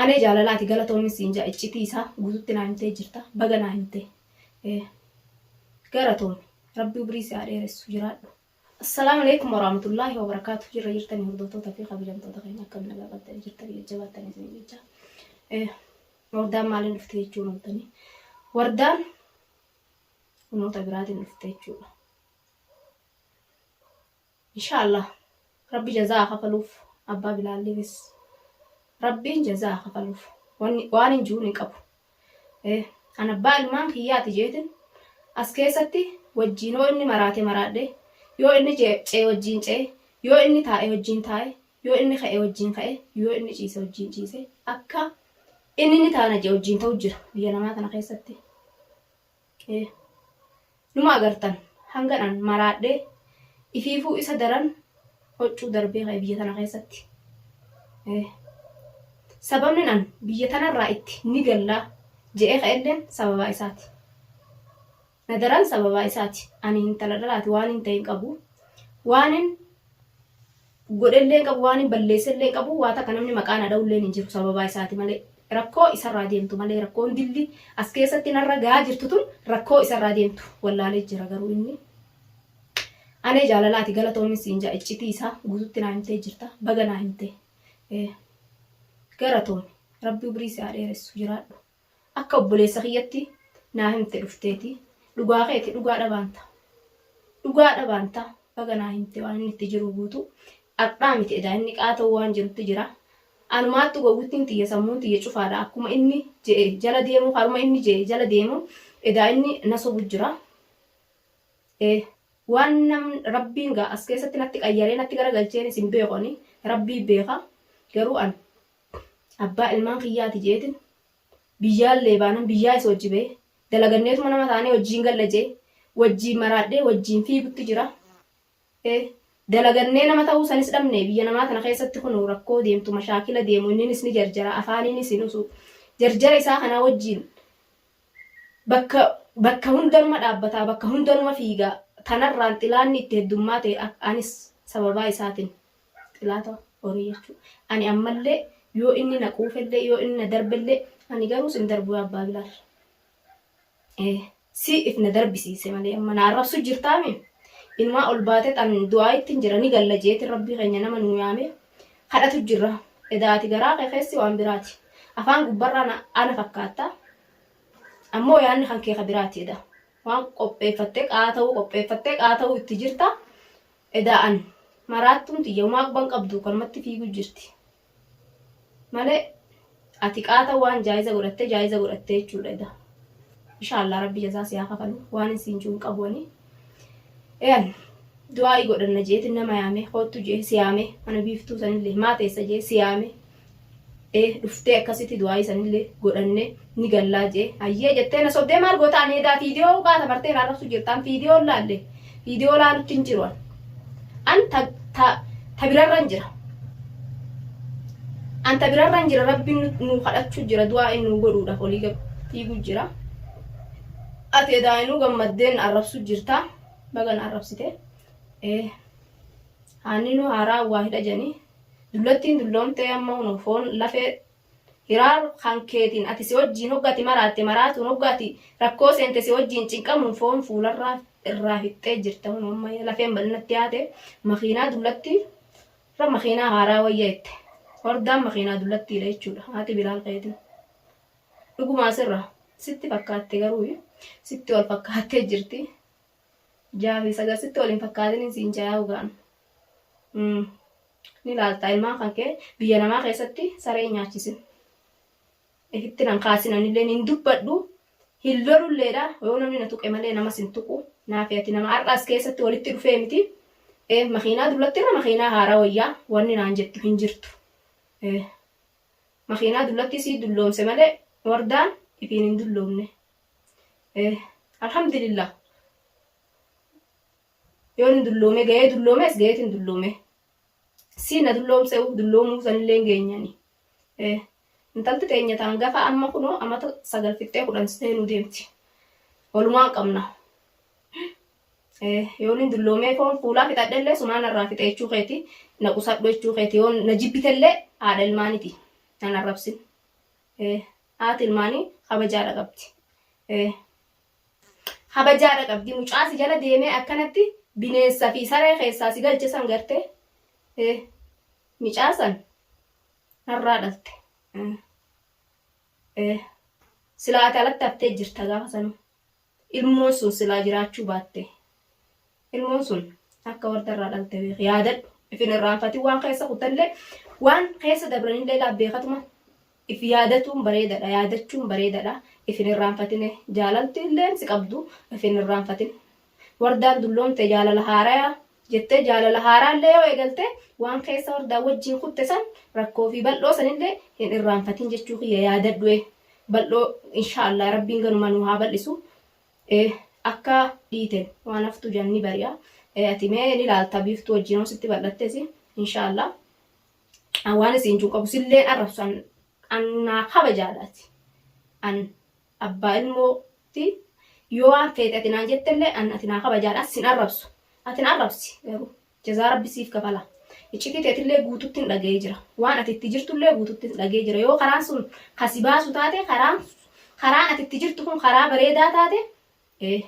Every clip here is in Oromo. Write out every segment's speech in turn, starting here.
Anee jaalalaati galatoomin siin jaa iccitii isaa gututti naa himtee jirta baga naa himtee ee garatoomi rabbi ubrii si haa dheeressu jiraadhu. Assalaamu Aleeykum Waraamatullaahi Wabarakaatu jirra jirtanii hordootoota fi kabajamtoota keenya akkami nagaa qabdanii jirtanii jajjabaattan isin jecha Eh, wardaan maaliin dhufte jechuun oltanii wardaan humnoota biraatiin dhufte jechuudha. Inshaa Allah rabbi jazaa haa kafaluuf abbaa bilaalliifis rabbiin jazaa haa kafaluuf wanni waanin ju'uun hin qabu ee an abbaa ilmaan kiyyaati jeetin as keessatti wajjiin hoo inni maraate maraadhe yoo inni ce'e wajjiin ce'e yoo inni taa'e wajjiin taa'e yoo inni ka'e wajjiin ka'e yoo inni ciise wajjiin ciise akka inni ni taana je'e wajjiin ta'u jira biyya namaa tana keessatti Numa agartan hangan an maraadhe ifiifuu isa daran hoccuu darbee ka'e biyya tana keessatti. Sababnin an biyya tanarraa itti ni galla je'ee ka'elleen sababaa isaati. Na daran sababaa isaati. Ani intala dhalaati waanin ta'e hin qabu. Waanin. godhellee hin qabu, waanin balleessellee hin qabu, waa takka namni maqaa na dhawulleen hin jiru sababaa isaati malee. Rakkoo isarraa deemtu malee rakkoon dilli as keessatti narra gahaa jirtu tun rakkoo isarraa deemtu wallaalee jira garuu inni. Anee jaalalaati galatoomin siin ja'a iccitii isaa guututti naa himtee jirta baga naa himtee. Galatoomi rabbi umrii si haa dheeressu jiraadhu. Akka obboleessa kiyyatti naa himte dhufteeti dhugaa keeti dhugaa dhabaan ta, dhugaa dhabaan ta, baga naa himte waan inni itti jiruu guutuu ardhaa miti edaa inni qaata'uu waan jirutti jira anumaattu gowwittiin tiyya sammuun tiyya cufaadha akkuma inni je'e jala deemuu karuma inni je'e jala deemu edaa inni na sobu jira ee waan nam rabbiin gaa as keessatti natti qayyaree natti gara galcheenis hin beeku ani rabbii beeka garuu an Abbaa ilmaan kiyyaati jeetin biyyaallee baanan biyyaa isa wajji bahe dalaganneetuma nama taanee wajjiin galla jee wajjiin maraadhee wajjiin fiigutti jira e dalagannee nama ta'uu sanis dhabne biyya namaa tana keessatti kunoo rakkoo deemtu mashaakila deemu inninis ni jarjara afaaniinis hin usu jarjara isaa kanaa wajjiin bakka bakka hundanuma dhaabbataa bakka hundanuma fiigaa tanarraan xilaanni itti heddummaate anis sababaa isaatin xilaata horii jechuu ani ammallee yoo inni na quufellee yoo inni na darbellee ani garuu sin darbu yaa abbaa bilaal ee si if na darbisiise malee amma na arrabsu jirtaami inumaa ol baate tan du'aa ittiin jira ni galla jeetin rabbii keenya nama nuu yaame kadhatu jirra edaati garaa kee keessi waan biraati afaan gubbarraan ana fakkaatta ammoo yaanni kan kee ka biraati eda waan qopheeffattee qaa ta'uu qopheeffattee qaa ta'uu itti jirta Edaa ani. Maraattuun tiyya homaa quban qabduu kanumatti fiiguu jirti malee ati qaata waan jaa'iza godhattee jaa'iza godhattee jechuudha edaa ishaallah rabbi jazaa si haa kafalu waanin siin juu hin qabu ani ean du'aa'ii godhanna je'eetin nama yaamee koottu je'e si yaamee mana biiftuu sanillee maa teessa je'e si yaamee ee dhuftee akkasitti du'aayii sanillee godhanne ni gallaa jee hayyee jettee na sobdee maal goota ani edaa fiidiyoo baata bartee na arrabsu jirtaan fiidiyoo laalle fiidiyoo laalutti hin jiru an an ta ta ta birarran jira an ta birarran jira rabbiin nu- nu kadhachuu jira du'aa inni nu godhuudhaaf olii gad fiiguu jira ati edaa inuu gammaddeen arrabsu jirta bagan arrabsite ee haanninuu haaraa waa hidha janii Dullattiin dulloomtee amma hunoo foon lafee Hiraar kan keetiin ati si wajjiin hogga ati maraatte maraatuun hogga ati rakkoo seente si wajjiin cinqamuun foon fuularraa irraa fixxee jirta hunoo amma lafeen bal'inatti yaate makiinaa dullattii irra makiinaa haaraa wayya jette hordaan makiinaa dullattiidha jechuudha haati bilaal keetiin dhugumaa sirra sitti fakkaatte garuu sitti wal fakkaattee jirti jaafi sagar sitti wal hin fakkaatiniin siin jayaa ugaan ni laalta ilmaan kan kee biyya namaa keessatti saree hin nyaachisin ifitti nan kaasin anillee hin dubbadhu hin lolulleedha yoo namni na tuqe malee namas hin tuqu naafi ati nama har'aas keessatti walitti dhufee miti ee makiinaa dullatti irra makiinaa haaraa wayyaa wanni naan jettu hin jirtu ee makiinaa dullatti sii dulloomse malee wardaan ifiin hin dulloomne ee alhamdulillah Yoon hin dulloomee gahee dulloomees gaheetiin dulloomee. Siin na dulloomse'u dulloomuu sanillee hin geenyani. Intalti teenya taan gafa amma kunoo amata sagal fixxee kudhan seenuu deemti. Walumaan qabna. Yoon hin dulloomee foon fuulaa fixadhellee sumaa narraa fixee jechuu keeti na qusadhu jechuu keeti yoon na jibbitellee haadha ilmaaniti nan arrabsin. Haati ilmaanii kabajaadha qabdi. Habajaadha qabdi mucaa si jala deemee akkanatti bineensa fi saree keessaa si galche san garte eh micaa san narraa dhalte eh eh silaa ati alatti haftee jirta gaafa sanu ilmoon sun silaa jiraachuu baatte. Ilmoon sun akka warda irraa dhalte beeki. Yaadadhu. If hin irraanfatin waan keessa kutallee waan keessa dabranillee laa beekatuma if yaadatuun bareedadha. Yaadachuun bareedadha. If hin irraanfatine jaalalti illeen si qabdu if hin irraanfatin. Wardaan dulloomte jaalala haarayaa jettee jaalala haaraallee yoo eegalte waan keessa wardaa wajjin kutte san rakkoo fi bal'oo sanillee hin irraanfatin jechuu kiyya yaadadhu. Bal'oo inshaallah rabbiin ganuma nuu haa bal'isu. e Akka dhiiten waan haftu jan ni bari'a e ati mee ni laalta biiftuu wajjin hoo sitti bal'attesi inshaallah an waan isiin jun qabu silleen arrabsu an an naa kabajaadhaati an abbaa ilmooti yoo waan feete ati naan jettellee an ati naa kabajaadhaati sin arrabsu ati na arrabsi garuu Jazaa Rabbi siif kafala. Iccitii teetillee guututti hin dhaga'ee jira. Waan ati itti jirtullee guututti hin dhaga'ee jira. Yoo karaan sun kan si baasu taate karaan karaan ati itti jirtu kun karaa bareedaa taate ee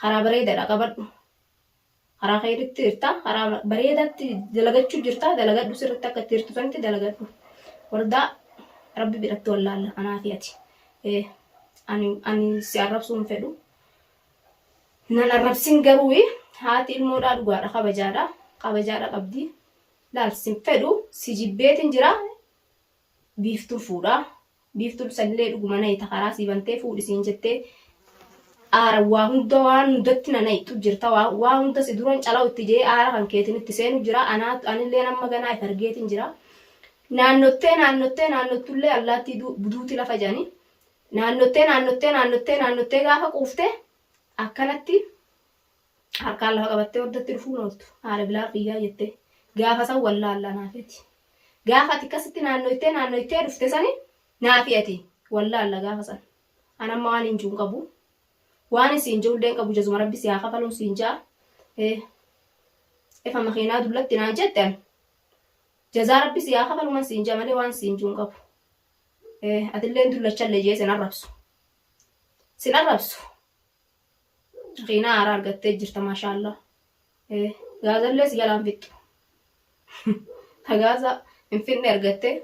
karaa bareedaadha qabadhu. Karaa keetitti jirta. Karaa bareedaatti dalagachuu jirta. Dalagadhu sirriitti akka itti jirtu sanitti dalagadhu. Wardaa Rabbi biratti wallaalla anaa fi ati. Ee ani ani si arrabsuu hin fedhu. Nan arrabsin garuu haati ilmoodhaa dhugaadha kabajaadha kabajaadha qabdi laal sin fedhu si jibbeetin jira biiftuun fuudha biiftuun sanillee dhuguma nayita karaa sii bantee fuudhi siin jettee aara waa hunda waan hundatti na nayitu jirta waa waa hunda si duran calaw itti jee aara kan keetin itti seenu jira anaa anillee nama ganaa if argeetin jira naannottee naannottee naannottullee allaattii du- duuti lafa jedhani Naannottee naannottee naannottee naannottee gaafa quufte akkanatti harkaan lafa qabattee hordatti dhufuun ooltu haadha bilaaf iyyaa jettee gaafa san wallaallaa naafeeti. Gaafa ati akkasitti naannoytee naannoytee dhufte sani naafi ati wallaalla gaafa san. An amma waan hin jiru hin qabu. Waan hin siin jiruullee hin qabu jazuma rabbi si haa kafaluun siin ja'a. Eh, Efa makiinaa dullatti naan jette an jazaa rabbi si haa kafaluman siin ja'a malee waan siin jiru hin qabu. Atilleen dullachallee jee sin arrabsu. Sin arrabsu. Kiinaa haaraa argattee jirta maashaallaa. Gaazallee si jalaan fixxu. Ta gaaza hin fixne argattee.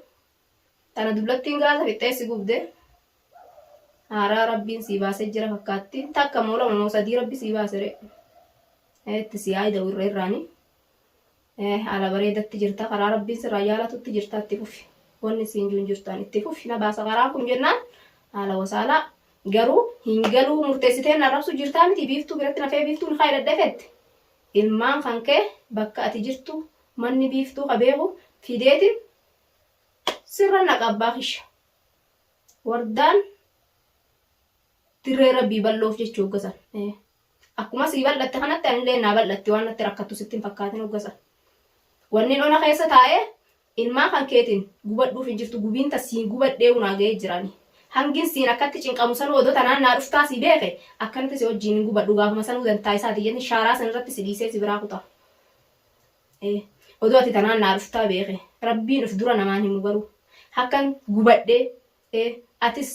Tana dullattiin gaaza fixxee si gubde. Haaraa rabbiin sii baasee jira fakkaatti. Takka moo lama moo sadii rabbi sii baasere. Itti si yaa'ida irra irraanii. Haala bareedatti jirta karaa rabbiin sirraa jaalatutti jirta itti fufi wanni siin juun jirtaan itti fufi na baasa karaa kun jennaan haala wasaalaa garuu hin galuu murteessitee na rabsu jirtaa miti biiftuu biratti nafee biiftuun haa hidhadhee fette ilmaan kan kee bakka ati jirtu manni biiftuu ka beeku fideetiin sirra naqa abbaa kisha wardaan Dirree Rabbii bal'oof jecha hoggasan. Akkuma sii bal'atte kanatti anillee naa bal'atti waan natti rakkattu sitti hin fakkaatin hoggasan. Wannin ona keessa taa'ee ilmaan kan keetiin gubadhuuf hin jirtu gubiin ta siin gubadhee unaa ga'ee jirani. Hangin siin akkatti cinqamu sanuu odoo tanaan naa dhuftaa sii beeke akkanatti si wajjiin hin gubadhu gaafuma sanuu dantaa isaati jenni shaaraa san irratti si dhiisee si biraa kuta. Odoo ati tanaan naa dhuftaa beeke rabbiin of dura namaan himu garuu hakkan gubadhee atis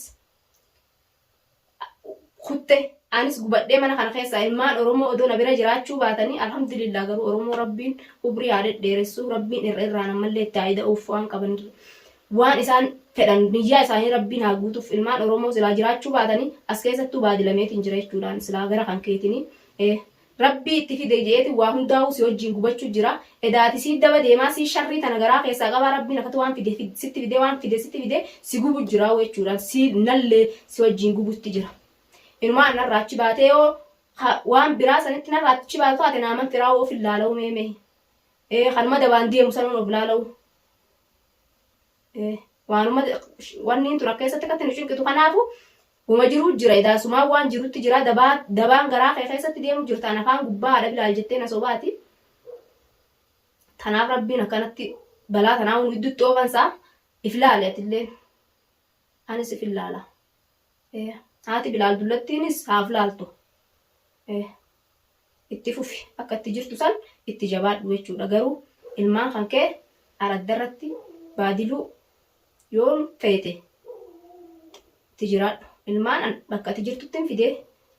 kutte anis gubadhee mana kana keessaa ilmaan oromoo odoo na bira jiraachuu baatanii alhamdulillah garuu oromoo rabbiin umrii haa dhedheeressuu rabbiin irra irraan ammallee itti haa ida'uuf waan qaban waan isaan fedhan niyyaa isaanii rabbiin haa guutuuf ilmaan oromoo silaa jiraachuu baatanii as keessattuu baadilameetiin jira jechuudhaan silaa gara kan keetinii Rabbii itti fide jeeti waa hundaahuu si wajjiin gubachu jira edaa ati sii daba deemaa sii sharrii tana garaa keessaa qabaa rabbiin akati waan fide sitti fidee waan fide sitti fide si gubu jiraahuu jechuudhaan sii nallee si wajjiin gubutti jira inumaa narraa achi baatee yoo ka waan biraa sanitti narraa achi baatu taate naa man firaahuu of hin laalahuu mee mee ee kanuma dabaan deemu sanuun of laalahuu Waanuma wanni tun akka keessatti akkatti nu cinqitu kanaafu huma jiruu jira idaasumaa waan jirutti jira dabaan garaa kee keessatti deemu jirtaan afaan gubbaa haadha bilaal jettee na sobaati. Tanaaf rabbiin akkanatti balaa tanaa nu gidduutti oofansaa if laale atillee anis if ilaala. Haati bilaal dullattiinis haaf laaltu. itti fufi akka itti jirtu san itti jabaadhu jechuudha garuu ilmaan kan kee araddarratti baadiluu yoo feete itti jiraadhu ilmaan an bakka ati jirtuttin fidee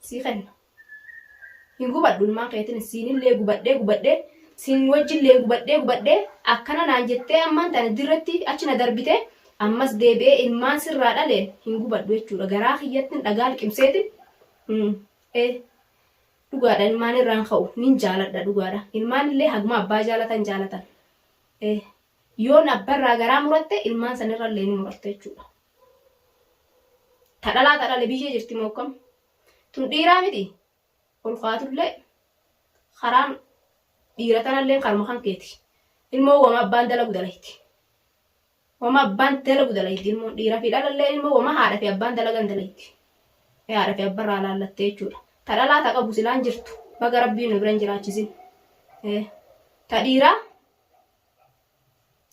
sii kenna hin gubadhu ilmaan keetin siinillee gubadhee gubadhee siin wajjillee gubadhee gubadhee akkana naan jettee ammaan tana dirratti achi na darbite ammas deebi'ee ilmaan sirraa dhaleen hin gubadhu jechuudha garaa kiyyattin dhagaa liqimseetin Dhugaadha ilmaan irraan ka'u nin jaaladha dhugaadha ilmaan illee haguma abbaa jaalatan jaalatan eh, yoon abba irraa garaa muratte ilmaan san irra illee ni murarta jechuudha tadhalaa tadhale biyyee jirti moo akkam tun dhiiraa miti ol kaatullee karaan dhiira tanallee karma kan keeti ilmoo wama abbaan dalagu dalayti Woma abbaan dalagu dalayti ilmoon dhiira fi dhalallee ilmoo woma haadha fi abbaan dalagan dalayti. Mee haadha fi abba irraa laallattee jechuudha. Ta dhalaa ta qabu silaan jirtu baga rabbiin nu bira hin jiraachisin. Ta dhiiraa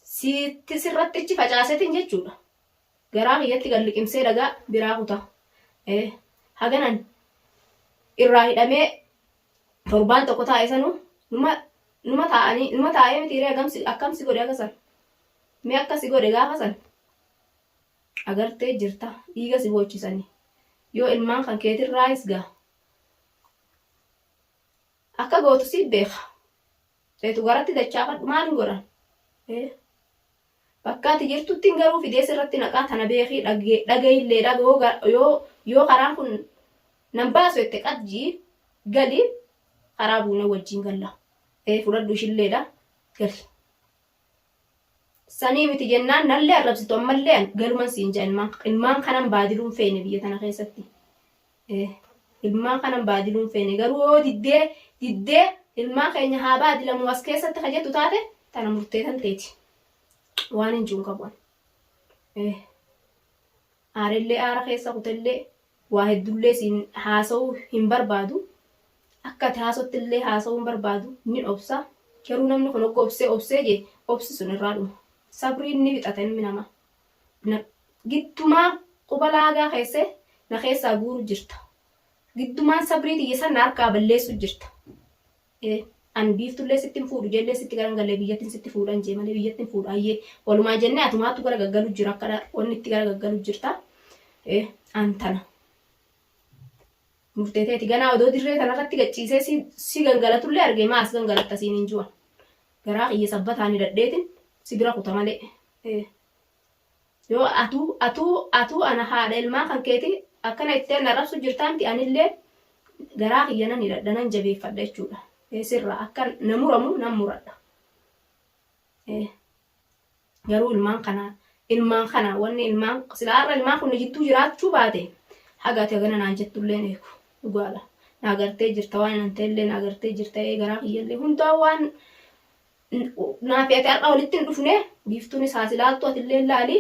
sitti sirratti ichi facaasetin jechuudha. Garaa kiyyatti gad liqimsee dhagaa biraa kuta. Haganan irraa hidhamee torbaan tokko taa'e sanuu numa numa taa'anii numa taa'ee miti hiree akkamsi godhe agasan. Mee akka si godhe gaafa san agartee jirta dhiiga si boochisanii yoo ilmaan kan keetirraayis gaa akka gootu si beeka eetu garatti dachaafadhu maal hin godhan ee bakka ati jirtuttiin garuu fidee sirratti naqaa tana beekii dhagaillee dhaga yoo ga- yoo yoo karaan kun nan baasu jette qajjii gali karaa buunee wajjin galla ee fudhadhu ishilleedha gali Sanii miti jennaan nallee arrabsitu ammallee an galuman siin jaa ilmaan ilmaan kanan baadiluun feene biyya tana keessatti. Eh, ilmaan kanan baadiluun feene garuu yoo diddee diddee ilmaan keenya haa baadilamu as keessatti ka jettu taate tana murteetan teeti. Waan hin juun qabu an. Eh. Aarellee aara keessa kutellee waa heddullee siin haasawuu hin barbaadu. Akka ati haasottillee haasawuu hin barbaadu. Nin obsa. Garuu namni kun hogga obsee obsee jee obsi sun irraa dhuma. Sabriin ni fixata ilmi namaa. Na giddumaa quba laagaa keesse na keessaa guuru jirta. Giddumaan sabrii tiyya san na harkaa balleessu jirta. e An biiftullee sitti hin fuudhu jeellee sitti garan gallee biyyattin sitti fuudhan jee malee biyyatti hin fuudhu ayyee walumaa jennee atumaattu gara gaggalu jira akka wanni itti gara gaggalu jirta e An tana murtee teeti ganaa odoo dirree tanarratti gacciisee si, si gangalatullee argee maa as gangalatta siin hin ju'an garaa kiyya sabbataani dadheetin si bira kuta malee e Yoo atuu atuu atuu ana haadha ilmaan kankeeti akkana jettee na arrabsuu jirtaa miti anillee garaa kiyya nan hidhadha nan jabeeffadha jechuudha. Ee sirraa akka na muramu nan muradha. Ee garuu ilmaan kana ilmaan kana wanni ilmaan silaa har'a ilmaan kun na jidduu jiraachuu baate haga ati hagana naan jettullee hin eegu dhugaadha. Na agartee jirta waan hin anteellee na agartee jirta ee garaa kiyyallee hundaa waan Naafi ati har'a walitti hin dhufne biiftuunis haas ilaaltu atillee laali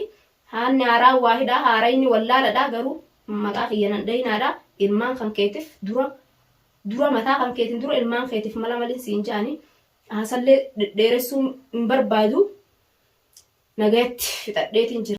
haanni haaraan waa hidhaa haarayni wallaaladha garuu maqaa kiyya nan dhayinaadha ilmaan kan keetif dura dura mataa kan keetin dura ilmaan keetif mala malin siin jaani haasallee dhedheeressuu hin barbaadu nagayatti fixadheetiin jira.